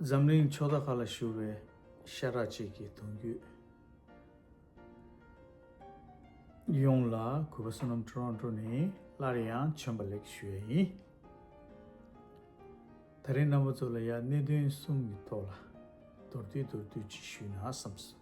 འཛམ་གླིང་ཕྱོགས་མཐའ་ཁག་ལ་བཞུར་བའི་ཤ་ཁྲག་གཅིག་གི་གདུང་རྒྱུད། ཡོངས་ལ་གུས་པ་བསོད་ནམས་ཁྲོ་རོང་ཁྲོ་ནས་སླར་ཡང་བྱོན་པ་ལེགས་ཞུ་བ་ཡིན། ད་རེས་རྣམ་པ་ཚོ་ལ་ཡང་གནད་དོན་གསུམ་གྱི་ཐོག་ལ་མདོར་བསྡུས་མདོར་བསྡུས་ཅིག་ཞུས་ན་བསམས་སོ།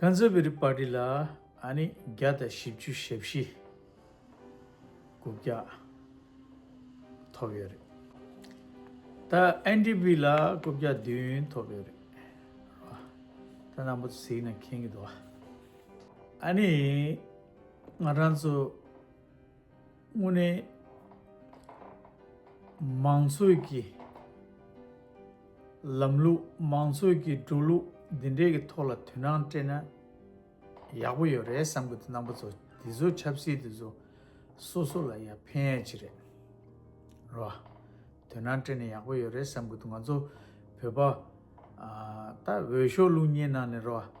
Conservative Party ལ་ཨ་ནི་བརྒྱ་དང་བཞི་བཅུ་ཞེ་བཞི་དགུ་བརྒྱ་ཐོབ་ཡོད་རེད། ད་ཨན་ཏི་པི་ལ་དགུ་བརྒྱ་བདུན་ཐོབ་ཡོད་རེད། ད་ནང་པོ་ཚིག་ནས་མཁྱེན་གྱི་འདུག། ཨ་ནི་ང་རང་ཚོ། དངོས་གནས་མང་གཙོའི་གི་ལམ་ལུགས་མང་གཙོའི་གི་འགྲོ་ལུགས་འདི་འདྲའི་གི་ཐོག་ལ་དོན་རང་སྤྲད་ན་ཡག་པོ་ཡོད་རེད་བསམ་གི་འདུག་རྣམ་པ་ཚོ་འདི་ཚོ་ཆབ་སྲིད་འདི་ཚོ་སོ་སོ་ལ་ཡང་ཕན་ཡག་ཅིག་རེད་རེད་བ། དོན་རང་སྤྲད་ན་ཡག་པོ་ཡོད་རེད་བསམ་གི་འདུག་ང་ཚོ་བོད་པ་ད་འོས་ཤོག་རླུང་ཉེན་ནང་ནས་རེད་བ།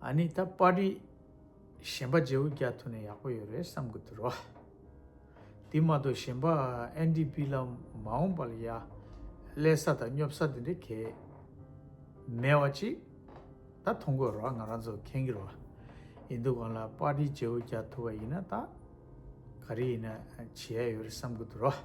ཨཱ་ནི་ད་པ་རི་གཞན་པ་རྗེའུ་རྒྱ་ཐུ་ནས་ཡག་པོ་ཡོད་རེད་བསམ་གི་འདུག་རོ། དེ་མ་གཏོགས་གཞན་པ་ཨན་དི་པི་ལ་མ་འོངས་པ་ལ་ཡ་ཀླད་ས་དང་སྙོབ་ས་དེ་འདྲའི་གལ་མེད་བ་ཅིག་ད་མཐོང་དགོས་རོགས་ང་རང་ཚོ་མཁྱེན་གི་རོགས་ཡིན་འདུག་གང་ལ་པ་རི་རྗེའུ་རྒྱ་ཐུ་བ་ཡིན་ན་ད་ག་རི་ཡིན་ན་བྱེད་ཡ་ཡོད་རེད་བསམ་གི་འདུག་རོགས།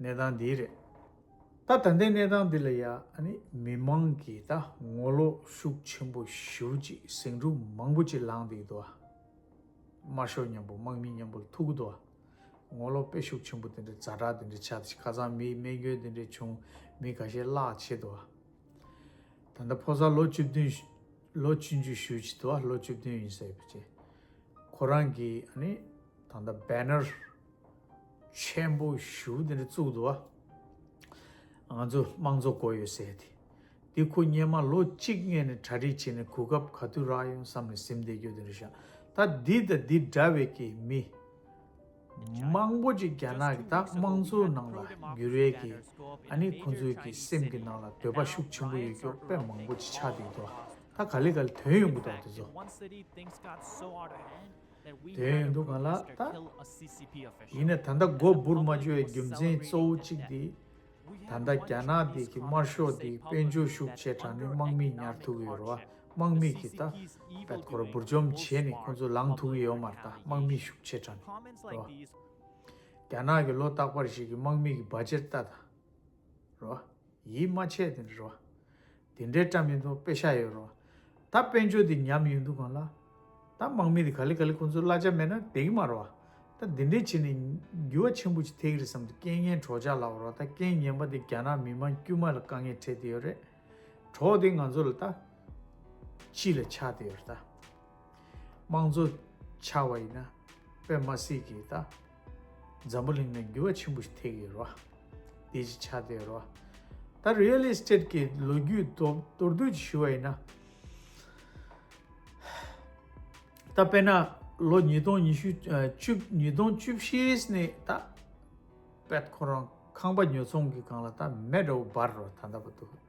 གནས་སྟངས་འདི་རེད། ད་ད་ལྟའི་གནས་སྟངས་འདི་ལ་ཡ་ནི་མི་དམངས་ཀྱིས་ད་ངོ་ལོག་ཤུགས་ཆེན་པོ་ཞུ་ཅིག་ཟིང་འཁྲུག་མང་པོ་ཅིག་ལངས་འདུག་དུ་དམར་ཤོག་མཉམ་པོ་དམག་མི་མཉམ་པོ་ལ་ཐུག་གི་འདུག་ངོ་ལོག་དཔེ་ཤུགས་ཆེན་པོ་དེ་འདྲ་ཛྭ་དྲག་དེ་འདྲ་བྱ་ཁ་སང་མིའི་རྨས་སྐྱོན་དེ་འདྲ་བྱུང་མི་ག་ཤེད་བརླག་ཆེ་དུ་ད་ལྟ་ཕོ་གསར་ལོ་བཅུ་བདུན་ལོ་བཅུ་འཇུ་ཞུ་ཅིག་དུ་ལོ་བཅུ་བདུན་ཡིན་ཟེར་བ་ཅིག་ཁོ་རང་གིས་ནི་ད་ད་བེ་ནར། ཆེན་པོ་ཞུ་དེ་འདྲ་བཙུགས་འདུག་ང་ཚོ་དམངས་གཙོ་གོ་ཡོད་ཟེར་དེ་འདི་ཁོ་གཉེན་མ་ལོ་གཅིག་ལྔས་ནས་གྲ་སྒྲིག་བྱས་ནས་གོ་སྐབས་ག་དུས་རག་ཡོང་བསམ་ནས་སིམ་སྡེ་རྒྱོ་དེ་འདྲ་བཞག་ད་འདི་དང་འདི་འདྲ་བའི་ཀྱི་མི་མང་པོ་ཅིག་རྒྱ་ནག་གི་ད་དམངས་གཙོ་ནང་ལ་འགྱུར་བའི་ཀྱི་ཨ་ནི་ཁོ་ཚོའི་ཀྱི་སེམས་ཀྱི་ནང་ལ་འདོད་པ་ཤུགས་ཆེན་པོ་ཡོད་ཀྱོག་དཔེ་མང་པོ་ཅིག་ཆགས་འདུག་འདུག་ད་ག་ལེ་ག་ལེ་དོན་ཡོང་གི་འདུག་འདི་ཚོ། དེ་ཡིན་འདུག་ག་ལ་ད། ཡིན་ནས་ད་ལྟ་མགོ་འབུར་མ་གཅོད་རྒྱུ་མཚན་གཙོ་བོ་གཅིག་དེ། ད་ལྟ་རྒྱ་ནག་དེ་གི་དམར་ཤོག་དེ་དཔལ་འབྱོར་ཤུགས་ཆེ་དྲགས་ནས་དམག་མི་ཉར་ཐུབ་ཡོད་རེད་བ་དམག་མི་གི་ད་ད་ཁོ་ར་འབུར་འཇོམས་བྱས་ནས་ཁོ་ཚོ་ལངས་ཐུབ་ཀྱི་ཡོད་མ་རེད་ད་དམག་མི་ཤུགས་ཆེ་དྲགས་ནས་རེད་བ། རྒྱ་ནག་གི་ལོ་རྟག་པར་ཞིག་གི་དམག་མི་གི་བ་ཇེར་ལྟ་ད་རེད་བ། ཡིད་མ་ཆེས་དེ་འདྲ་རོ། དེ་འདྲའི་སྐྲ་མི་འདུག་དཔེ་ཤ་ཡོད་རོ། ད་དཔོན་ཆོས་དེ་ཉམས་ཡོད་འདུག་གང་ལ། ད་དམག་མི་དེ་ག་ལེ་ག་ལེ་ཁོང་ཚོའི་གླ་ཆ་མེད་ན་དེ་གི་མ་རོ། ད་འདི་འདྲའི་བྱེད་ནས་འགྱུ་བ་ཆེན་པོ་ཅིག་ཐེག་རེད་བསམ་དུ་རྐྱེན་ངན་གྲོགས་ཅག་ལབ་རོགས་ད་རྐྱེན་ངན་པ་དེ་རྒྱ་ནག་མི་དམངས་དཀྱུས་མ་ལ་དཀའ་ངལ་འཕྲད་དེ་ཡོད་རེད། གྲོགས་དེ་ང་ཚོ་ལ་ད། སྤྱི་ལ་ཆགས་དེ་ཡོད་རེད་ད། དམངས་གཙོ་ཆགས་བ་ཡིན་ན། དཔེ་མ་སྲིད་ཀྱི་ད། འཛམ་བུ་གླིང་ན་འགྱུར་བ་ཆེན་པོ་ཞིག་ཐེག་ཡོད་རོ། དེ་ཅི་ཆ་དེ་ཡོད་རོ། ད་རེལ་ཨེསྟེད་ཀྱི་ལོ་རྒྱུས་མདོར་བསྡུས་ཀྱིས་ཞུ་བ་ཡིན་ན། ད་དཔེར་ན་ལོ་ཉིས་སྟོང་ཉི་ཤུ་བཅུ་ཉིས་སྟོང་བཅུ་བཞིས་ནས་ད་དཔལ་ཁོ་རང་ཁང་པ་ཉོ་ཚོང་གི་སྒང་ལ་ད་མེ་འདྲ་བོ་འབར་རོ་ད་འདྲ་བོ་འདུག།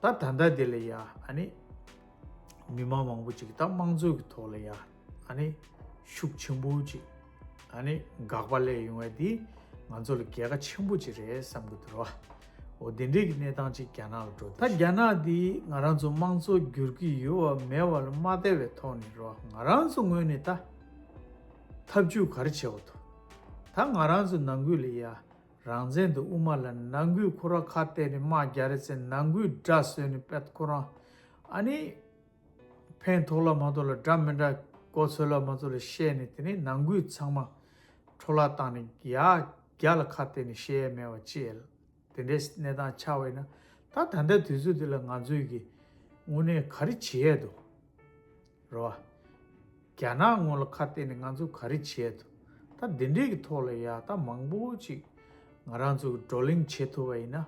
ད་ད་ལྟ་དེ་ལ་ཡ་ཨ་ནི་མི་མང་མང་པོ་ཅིག་ད་དམངས་གཙོ་གི་ཐོག་ལ་ཡ་ཨ་ནི་ཤུགས་ཆེན་པོ་ཅིག་ཨ་ནི་འགག་པ་ལས་ཡོང་བ་དེ་ང་ཚོ་ལ་གལ་ཁ་ཆེན་པོ་ཅིག་རེད་བསམ་གི་འདུག་རོ་འོ་དེ་འདྲའི་གི་གནས་སྟངས་ཅིག་རྒྱ་ནག་ལ་འགྲོ་ད་རྒྱ་ནག་དེ་ང་རང་ཚོ་དམངས་གཙོ་བསྒྱུར་གི་ཡོད་བ་མེད་བ་ལ་མ་བལྟ་བའི་ཐོག་ནས་རོ་ང་རང་ཚོ་ངོས་ནས་ད་ཐབས་ཇུས་ག་རེ་བྱེད་འོ་དོ་ད་ང་རང་ཚོ་ནང་ཁུལ་ལ་ཡ། རང་བཙན་དུ་དབུ་མ་ལ་ནང་ཁུལ་ཁོ་ར་ཁ་གཏད་ནས་དམག་རྒྱ་རེ་བསད་ནང་ཁུལ་དགྲ་བཟོས་ནས་དཔལ་ཁོ་རང་ཨ་ནི། ཕན་ཐོག་ལ་མ་ཐོག་ལ་དགྲ་མི་དགྲ་མགོ་ཚོས་ལ་མ་ཚོས་ལ་བཤད་ནས་དེ་ནས་ནང་ཁུལ་ཚང་མ་འཕྲོ་བརླག་བཏང་ནས་ཡ་རྒྱ་ལ་ཁ་གཏད་ནས་བཤད་ཡ་མེད་བ་བཅས་དེ་འདྲའི་གནས་སྟངས་ཆགས་བས་ན་ད་ད་ལྟའི་དུས་ཚོད་འདི་ལ་ང་ཚོས་ཀྱིས་དངོས་གནས་ག་རེ་བྱེད་ཡས་འདུག། རེད་བ། རྒྱ་ནག་ངོ་ལ་ཁ་གཏད་ནས་ང་ཚོ་ག་རེ་བྱས་ཐུབ། ད་འདི་འདྲས་ཀྱི་ཐོག་ལ་ཡག་རྟགས་མང་པོ་ཅིག་ང་རང་ཚོ་བགྲོ་གླེང་བྱེད་ཐུབ་པ་ཡིན་ན།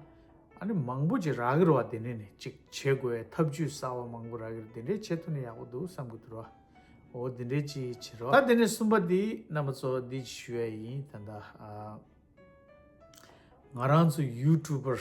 ཨ་ནི་མང་པོ་ཅིག་རག་གི་རེད་བ་འདི་འདྲས་ནས་ཅིག་བྱེད་དགོས་བའི་ཐབས་ཇུས་གསར་བ་མང་པོ་རག་གི་རེད་འདི་འདྲས་བྱེད་ཐུབ་ན་ཡག་པོ་འདུག་བསམ་གི་འདུག་རེད་བ། འོ་འདི་འདྲས་ཅིག་བྱེད་རེད་བ། ད་འདི་ནས་གསུམ་པ་འདི་རྣམ་པ་ཚོ་འདི་ཅིག་ཞུ་ཡ་ཡིན་ད། ང་རང་ཚོ་ཡུའུ་ཀྲུའུ་པར།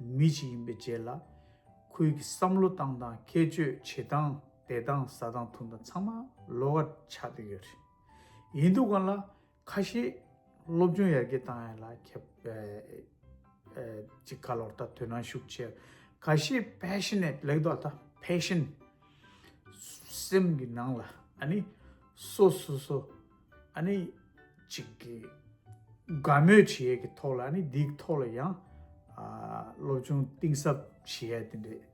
མི་ཞིག་ཡིན་པའི་རྗེས་ལ། ཁོའི་གི་བསམ་བློ་སྟངས་དང་ཁྱད་ཆོས་བྱེད་སྟངས་བསྡད་སྟངས་ཟ་སྟངས་འཐུང་སྟངས་ཚང་མ་ལོག་ཀ་ཆགས་འདུག་ཡོད་རེད། ཡིན་འདུག་གང་ལ། ཁ་ཤས་སློབ་སྦྱོང་ཡར་རྒྱས་བཏང་ཡ་ལ་ཁྱབ། ཅིག་ཁ་ལོར་ད་དོན་ནང་ཞུགས་ཆེད་ཁ་ཤས passionate ལེགས་འདོགས་ད passion། སེམས་ཀྱི་ནང་ལ་ཨ་ནི། སོ་སོ་སོ། ཨ་ནི། གཅིག་གིས། དགའ་མོས་བྱེད་ཡས་ཀྱི་ཐོག་ལ་ཨ་ནི་འདིའི་ཐོག་ལ་ཡང། སློབ་ཆུང་གཏིང་ཟབ་བྱེད་ཡས་དེ་འདྲས།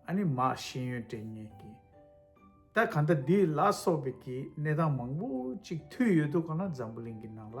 ཨ་ནི་མ་ཤེས་ཡོན་དྲན་ངེས་ཀྱི། ད་ག་ད་འདི་ལ་སོགས་པའི་ཀྱི་གནས་སྟངས་མང་པོ་གཅིག་འཐུས་ཡོད་འདུག་ག་ན་འཛམ་བུ་གླིང་གི་ནང་ལ།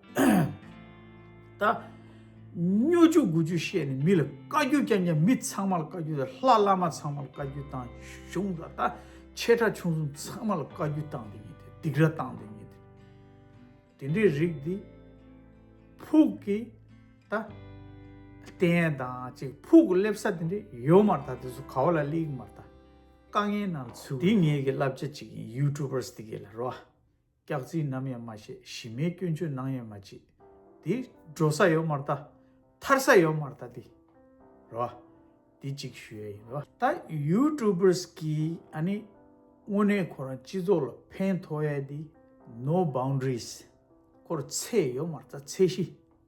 ད་སྨྱོ་རྒྱུ་དགུ་རྒྱུ་བཤད་ནས་མི་ལ་བཀའ་རྒྱུ་ཀྱང་ཀྱང་མི་ཚང་མ་ལ་བཀའ་རྒྱུ་དང་ལྷ་བླ་མ་ཚང་མ་ལ་བཀའ་རྒྱུ་དང་གཞུང་ལ་ད་ཆེ་ཕྲ་ཆུང་གསུམ་ཚང་མ་ལ་བཀའ་རྒྱུ་བཏང་འདི་ཉིད་དེ་སྡིག་ར་བཏང་འདི་ཉིད་དེ་དེ་འདྲའི་རིགས་འདི་ཕུག་གི་ད་བསྟན་དང་ཅིག་ཕུག་གི་སླེབས་ས་དེ་འདྲའི་ཡོད་མ་ད་དེ་ཚོ་ག་བ་ལ་གླེང་མ་ད་དཀའ་ངལ་ནང་ཚུད་འདི་ངེད་ཀྱི་བསླབ་བྱ་ཅིག་ཡིན YouTubers དེ་གའི་ལ་རོ་སྐྱག་རྫིག་ནམ་ཡང་མ་བཤད་གཞི་མེད་སྐྱོན་བརྗོད་གནང་ཡང་མ་བྱེད། དེ་འགྲོ་ས་ཡོད་མར་བལྟ། ཐར་ས་ཡོད་མར་བལྟ་དེ། རེད་བ། དེ་གཅིག་ཞུ་ཡ་ཡིན། ད YouTubers གིས་ཨ་ནི་དངོས་གནས་ཁོ་རང་སྤྱི་ཚོགས་ལ་ཕན་ཐོགས་ཡ་དེ No Boundaries ཁོར་ཚེ་ཡོད་མར་བལྟ་ཚེ་གཞི།